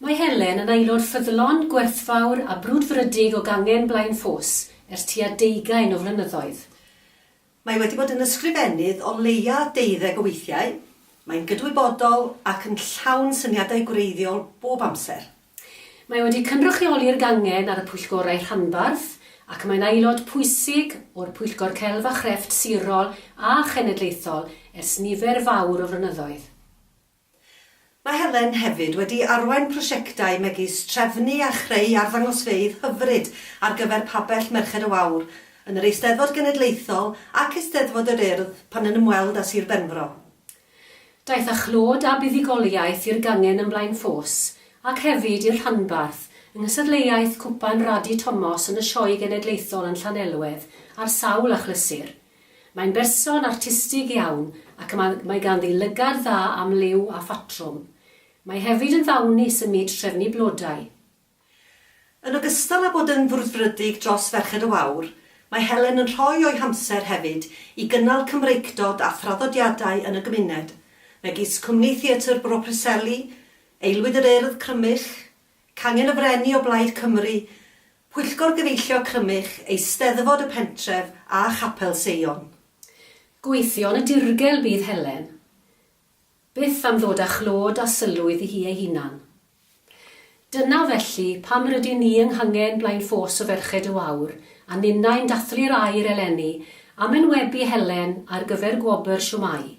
Mae Helen yn aelod ffyddlon, gwerthfawr a brwdfrydig o Gangen Blaen Ffos ers tua deugain o flynyddoedd. Mae wedi bod yn ysgrifennydd o leia' deuddeg o weithiau, mae'n gydwybodol ac yn llawn syniadau gwreiddiol bob amser. Mae wedi cynrychioli'r gangen ar y pwyllgorau rhanbarth ac mae'n aelod pwysig o'r Pwyllgor Celf a Chrefft sirol a chenedlaethol ers nifer fawr o flynyddoedd. Mae Helen hefyd wedi arwain prosiectau megis trefnu a chreu arddangosfeydd hyfryd ar gyfer pabell Merched y Wawr yn yr Eisteddfod Genedlaethol ac Eisteddfod yr Urdd pan yn ymweld â Sir Benfro. Daeth â chlod a buddugoliaeth i'r gangen yn Blaenffos ac hefyd i'r rhanbarth yng nghystadleuaeth Cwpan Radi Tomos yn y Sioe Genedlaethol yn Llanelwedd ar sawl achlysur. Mae'n berson artistig iawn ac mae ganddi lygad dda am liw a phatrwm. Mae hefyd yn ddawnus ym myd trefnu blodau. Yn ogystal â bod yn frwdfrydig dros Ferched y Wawr, mae Helen yn rhoi o'i hamser hefyd i gynnal Cymreictod a thraddodiadau yn y gymuned, megis Cwmni Theatr Bro Preseli, Aelwyd yr Urdd Crymych, Cangen y Freni o Blaid Cymru, Pwyllgor Gyfeillio Crymych, Eisteddfod y Pentref a Chapel Seion. Gweithio yn y dirgel bydd Helen. Byth am ddod â chlod a sylw iddi hi ei hunan. Dyna, felly, pam rydyn ni yng Nghangen blaen ffos o Ferched y Wawr a ninnau'n dathlu'r air eleni am enwebu Helen ar gyfer gwobr Siwmai.